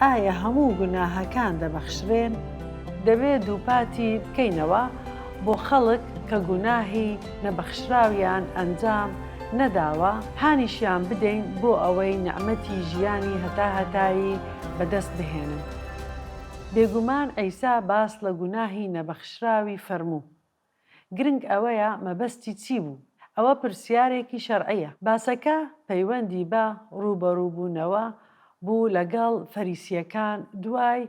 ئایا هەموو گوناهەکان دەبەخشرێن؟ دەبێت دووپاتی بکەینەوە بۆ خەڵک کە گوناهی نەبەخشراویان ئەنجام نەداوە، هانیشیان بدەین بۆ ئەوەی نیعمەتی ژیانی هەتاهەتایی بەدەست بهێنن. بێگومان عیسا باس لە گوناهی نەبەخشراوی فەرموو. گرنگ ئەوەیە مەبەستی چی بوو؟ ئەوە پرسیارێکی شەرعییە. باسەکە پەیوەندی بە ڕووبەڕووبوونەوە بوو لەگەڵ فەریسییەکان دوای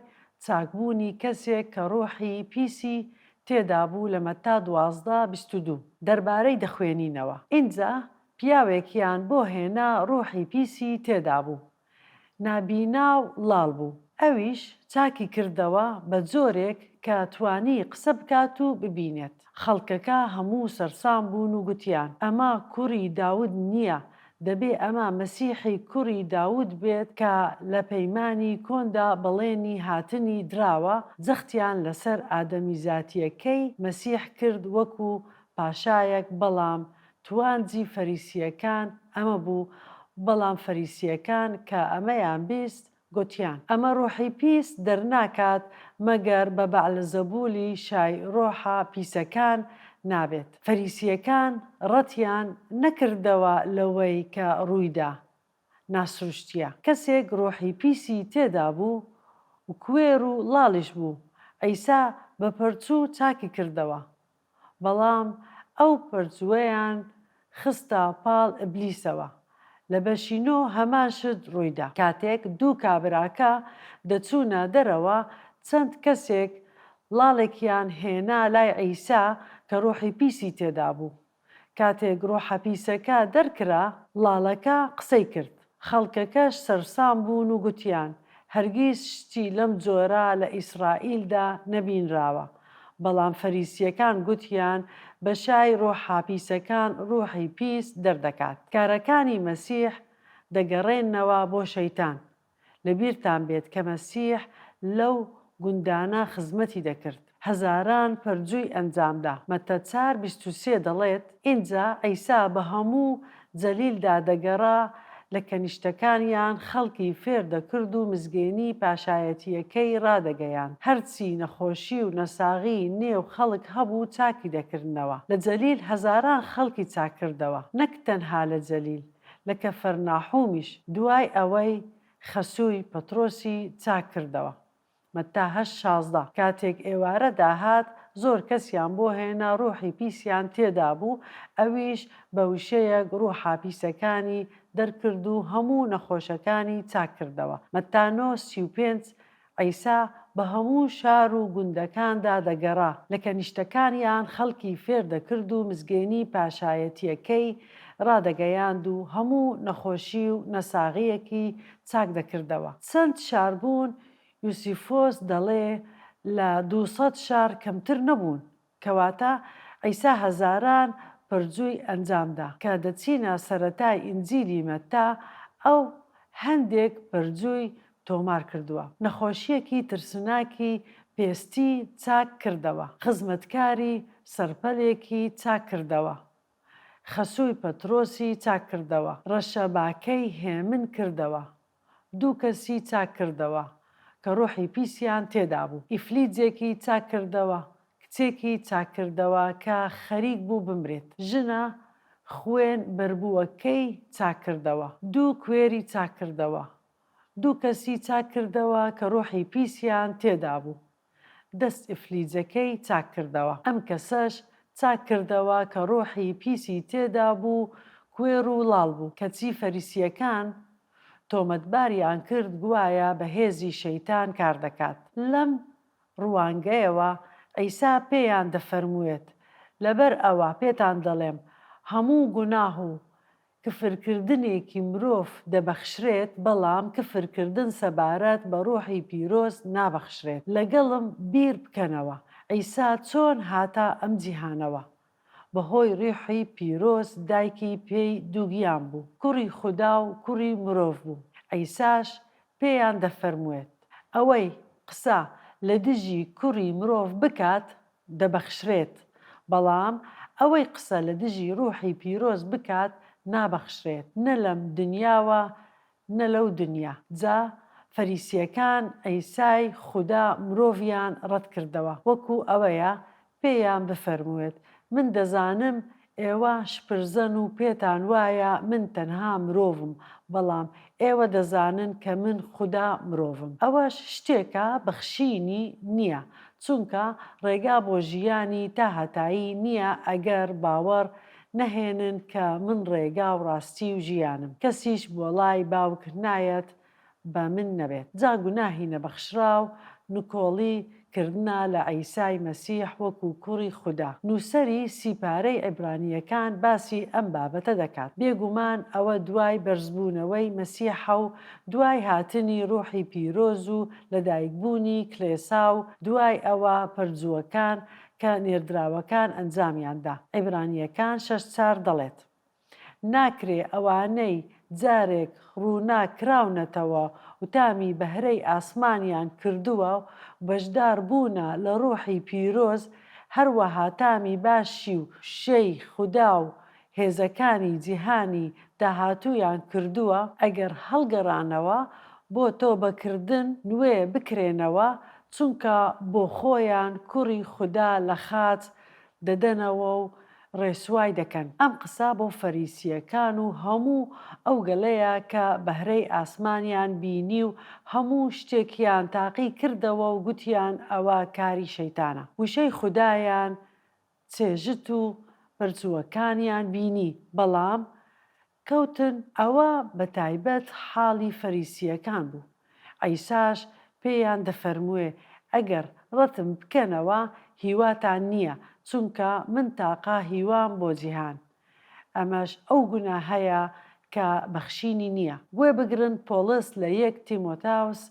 چاکبوونی کەسێک کە ڕۆحی پیسی تێدا بوو لە مەتا دوازدە بیست و دوو دەربارەی دەخوێنینەوە ئینجا پیاوێکیان بۆ هێنا ڕۆحی پیسی تێدا بوو نابینا و ڵاڵ بوو. ئەویش چاکی کردەوە بە جۆرێک کە توانی قسە بکات و ببینێت. خەڵکەکە هەموو سەرسام بوون و گوتیان، ئەمە کوڕی داود نییە، دەبێ ئەمە مەسیحی کوڕی داود بێت کە لە پەیمانی کۆندا بەڵێنی هاتنی دراوە، جەختیان لەسەر ئادەمیزاتییەکەی مەسیح کرد وەکوو پاشایەک بەڵام توانجی فەریسییەکان ئەمە بوو، بەڵام فەریسییەکان کە ئەمەیان بیست، گوتیان، ئەمە ڕوحی پیس دەرناکات مەگەر بە بەعلزەبوولی شای ڕوحە پیسەکان نابێت. فەریسییەکان ڕەتیان نەکردەوە لەوەی کە ڕوویدا. ناسروشتییە. کەسێک ڕوحی پیسی تێدابوو و کوێر و ڵاڵیش بوو، عیسا بە پەرچوو چاکی کردەوە. بەڵام ئەو پەرجووەیان خستە پاڵ ئبلیسەوە. لە بەشی نۆ هەمان شت ڕوویدا. کاتێک دوو کابراکە دەچوونە دەرەوە چەند کەسێک ڵاڵێکیان هێنا لای عیسا کە ڕوحی پیسی تێدابوو. کاتێک ڕوحە پیسەکە دەرکرا ڵاڵەکە قسەی کرد. خەڵکەکەش سەرسام بوون و گوتیان، هەرگیز شتی لەم جۆرە لە ئیسرائیلدا نەبینراوە. بەڵام فەریسییەکان گوتیان، بەشای ڕۆحە پیسەکان ڕۆحی پیس دەردەکات. کارەکانی مەسیح دەگەڕێننەوە بۆ شەیتان. لەبیرتان بێت کە مەسیح لەو گوندانە خزمەتی دەکرد. هەزاران پەرجووی ئەنجامدا. مەتە چار بیست و سێ دەڵێت، ئینجا عیسا بە هەموو جەلیلدا دەگەڕا، لە کەنیشتەکانیان خەڵکی فێر دەکرد و مزگێنیی پاشایەتییەکەی ڕادەگەیاند، هەرچی نەخۆشی و نەساغی نێو خەڵک هەبوو چاکی دەکردنەوە. لە جەلیل هەزاران خەڵکی چاک کردەوە. نەک تەنها لە جەلیل، لە کەفەرناحومیش، دوای ئەوەی خەسووی پەترۆسی چاک کردەوە. مەتا هەشت شازدە کاتێک ئێوارە داهات زۆر کەسیان بۆ هێنا ڕوحی پیسیان تێدا بوو ئەویش بە وشەیەک ڕوحا پیسەکانی دەرکرد و هەموو نەخۆشەکانی چاک کردەوە مەتا نۆ سی و پێنج عیسا بە هەموو شار و گوندەکاندا دەگەڕا لە کەنیشتەکانیان خەڵکی فێر دەکرد و مزگێنی پاشایەتیەکەی ڕادەگەیاند و هەموو نەخۆشی و نەساغیەکی چاک دەکردەوە چەند شار بوون یوسیفۆس دەڵێ لە دوو سەد شار کەمتر نەبوون، کەواتە عیسا هەزاران پەرجووی ئەنجام دا. کە دەچینە سەرەتای ئینجیلی مەتا، ئەو هەندێک پەرجووی تۆمار کردووە. نەخۆشییەکی ترسناکی پێستی چاک کردەوە. خزمەتکاری سەرپەلێکی چاک کردەوە. خەسووی پەترۆسی چاک کردەوە. ڕەشەباکەی هێمن کردەوە. دوو کەسی چاک کردەوە کە ڕۆحی پیسیان تێدا بوو، ئیفلیجێکی چاک کردەوە، کچێکی چاک کردەوە کە خەریک بوو بمرێت، ژنە خوێن بەربووەکەی چاک کردەوە، دوو کوێری چاک کردەوە، دوو کەسی چاک کردەوە کە ڕۆحی پیسیان تێدا بوو، دەست ئیفلیجەکەی چاک کردەوە ئەم کەسەش چاک کردەوە کە ڕوحی پیسی تێدا بوو کوێر و ڵاڵ بوو کەچی فەریسیەکان تۆمەتباریان کرد گوایە بە هێزی شەیتان کار دەکات لەم ڕوانگەیەوە عیسا پێیان دەفەرمووێت لەبەر ئەوە پێتان دەڵێم هەموو گوناه و کفرکردنێکی مرۆڤ دەبەخشرێت، بەڵام کفرکردن سەبارەت بە ڕوحی پیرۆز نابەخشرێت. لەگەڵم بیر بکەنەوە، عیسا چۆن هاتە ئەم جیهانەوە؟ بەهۆی ڕوحی پیرۆز دایکی پێی دووگیان بوو، کوڕی خودا و کوڕی مرۆڤ بوو. عیساش پێیان دەفەرموێت، ئەوەی قسە لە دژی کوڕی مرۆڤ بکات، دەبەخشرێت، بەڵام ئەوەی قسە لە دژی ڕووحی پیرۆز بکات نابەخشرێت، نە لەم دنیاوە نە لەو دنیا، جا فەریسییەکان عیسای خودا مرۆڤیان ڕەتکردەوە، وەکو ئەوەیە پێیان بفەرمووێت، من دەزانم ئێوە شپرزەن و پێتان وایە من تەنها مرۆڤم، بەڵام ئێوە دەزانن کە من خودا مرۆڤم. ئەوەش شتێکە بەخشینی نیە، چونکە ڕێگا بۆ ژیانی تا هەتایی نیە ئەگەر باوەڕ نەهێنن کە من ڕێگا و ڕاستی و ژیانم. کەسیش بۆ ڵای باوک نایەت بە من نەبێت جا گوناهی نەبەخشراو نکۆڵی کردنە لە عیسای مەسیح وەکو کوڕی خودا. نووسەری سی پارەی عیبرانییەکان باسی ئەم بابەتە دەکات. بێگومان ئەوە دوای بەرزبوونەوەی مەسیحە و دوای هاتنی ڕوحی پیرۆز و لەدایکبوونی کڵێسا و دوای ئەوە پەرجووەکان کە نێردراوەکان ئەنجامیان دا. عیبرانییەکان شەش چار دەڵێت ناکرێ ئەوانەی جارێک ڕووناک کراونەتەوە و تامی بەهرەی ئاسمانیان کردووە و بەشدار بوونە لە ڕووحی پیرۆز، هەروەها تامی باشی و شێی خودا و هێزەکانی جیهانی داهاتوویان کردووە، ئەگەر هەڵگەڕانەوە بۆ تۆبەکردن نوێ بکرێنەوە، چونکە بۆ خۆیان کوڕی خودا لە خاچ دەدەنەوە و ڕێسوای دەکەن، ئەم قسە بۆ فەریسییەکان و هەموو ئەو گەلەیە کە بەهرەی ئاسمانیان بینی و هەموو شتێکیان تاقی کردەوە و گوتیان ئەوە کاری شەیتانە، وشەی خودایان چێژت و بەرچووەکانیان بینی، بەڵام کەوتن، ئەوە بە تایبەت حاڵی فەریسییەکان بوو، عیساش پێیان دەفەرمووێ، ئەگەر ڕەتم بکەنەوە هیواتان نییە، چونکە من تاقە هیوام بۆ جیهان. ئەمەش ئەو گوناهەیە کە بەخشینی نییە. گوێ بگرن، پۆڵس لە یەک تیمۆتاوس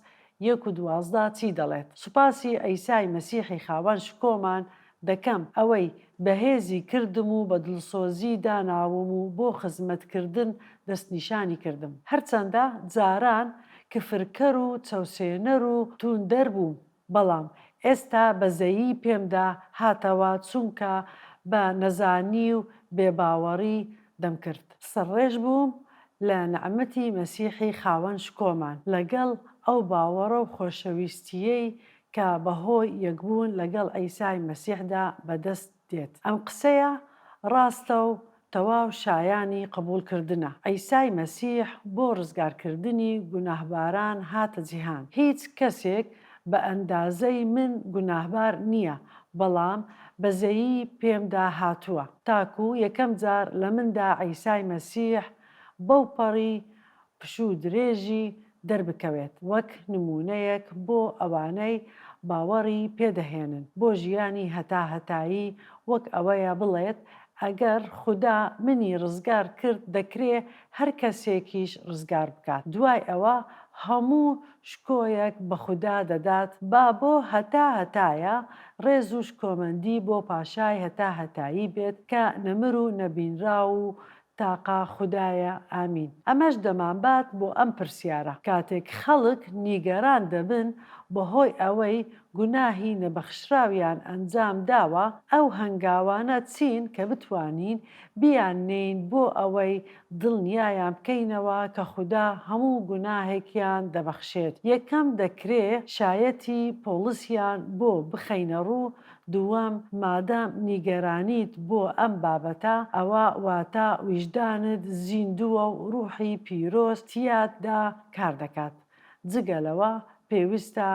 یەک و دوازدە چی دەڵێت؟ سوپاسی عیسای مەسیحی خاوەن شکۆمان دەکەم ئەوەی بەهێزی کردم و بە دڵسۆزی داناوم و بۆ خزمەتکردن دەستنیشانی کردم هەرچەندە جاران کفرکەر و چەوسێنەر و توندەر بووم بەڵام ئێستا بەزەیی پێمدا هاتەوە چونکە بە نەزانی و بێباوەڕی دەمکرد سەرڕێژ بووم لە نەعمەتی مەسیحی خاوەن شکۆمان لەگەڵ ئەو باوەڕە و خۆشەویستییەی کە بەهۆی یەکبوون لەگەڵ عیسای مەسیحدا بەدەست دێت. ئەم قسەیە ڕاستە و تەواو شایانی قبوڵکردنە، عیسای مەسیح بۆ ڕزگارکردنی گوناهباران هاتە جیهان، هیچ کەسێک، بە ئەندازەی من گوناهبار نییە، بەڵام بەزەیی پێمدا هاتووە، تاکو یەکەم جار لە مندا عیسای مەسیح بەوپەڕی پشوو درێژی دەربکەوێت، وەک نموونەیەک بۆ ئەوانەی باوەڕی پێدەهێنن بۆ ژیانی هەتاهەتایی، وەک ئەوەیە بڵێت، ئەگەر خودا منی ڕزگار کرد، دەکرێ هەر کەسێکیش ڕزگار بکات، دوای ئەوە هەموو شکۆیەک بە خودا دەدات با بۆ هەتا هەتایە ڕێز و شکۆمەندی بۆ پاشای هەتا هەتایی بێت کە نەمر و نەبینراو و تاقە خودایە ئامین ئەمەش دەمانبات بۆ ئەم پرسیارە کاتێک خەڵک نیگەران دەبن بەهۆی ئەوەی گوناهی نەبەخشراویان ئەنجام داوە، ئەو هەنگاوانە چین کە بتوانین بیان نێین بۆ ئەوەی دڵنیایان بکەینەوە کە خودا هەموو گوناهێکیان دەبەخشێت، یەکەم دەکرێ شایەتی پۆڵسیان بۆ بخەینە ڕوو، دووەم مادام نیگەرانیت بۆ ئەم بابەتە ئەوا واتا ویژدانت زیندووە و ڕوحی پیرۆز تیاتدا کار دەکات. جگە لەوە پێویستە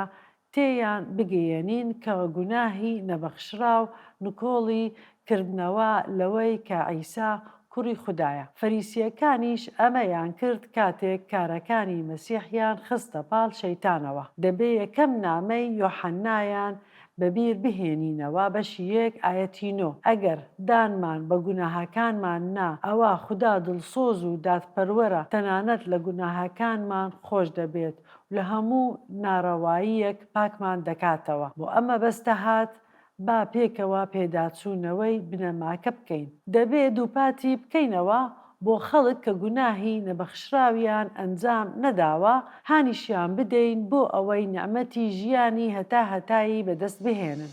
تێیان بگەیەنین کە گوناهی نەبەخشراو نکۆڵی کردنەوە لەوەی کە عیسا کوڕی خودایە. فەریسییەکانیش ئەمەیان کرد کاتێک کارەکانی مەسیحیان خستە پاڵ شەیتانەوە. دەبێ یەکەم نامەی یۆحەنایان بەبیر بهێنینەوە بەشی یەک ئایەتی نۆ، ئەگەر دانمان بە گوناهەکانمان نا ئەوا خودا دڵسۆز و دادپەروەرە تەنانەت لە گوناهەکانمان خۆش دەبێت و لە هەموو نارەواییەک پاکمان دەکاتەوە بۆ ئەم مەبەستە هات با پێکەوە پێداچوونەوەی بنەماکە بکەین دەبێ دووپاتی بکەینەوە بۆ خەڵک کە گوناهی نەبەخشراویان ئەنجام نەداوە هانیشیان بدەین بۆ ئەوەی نیعمەتی ژیانی هەتا هەتایی بەدەست بهێنن.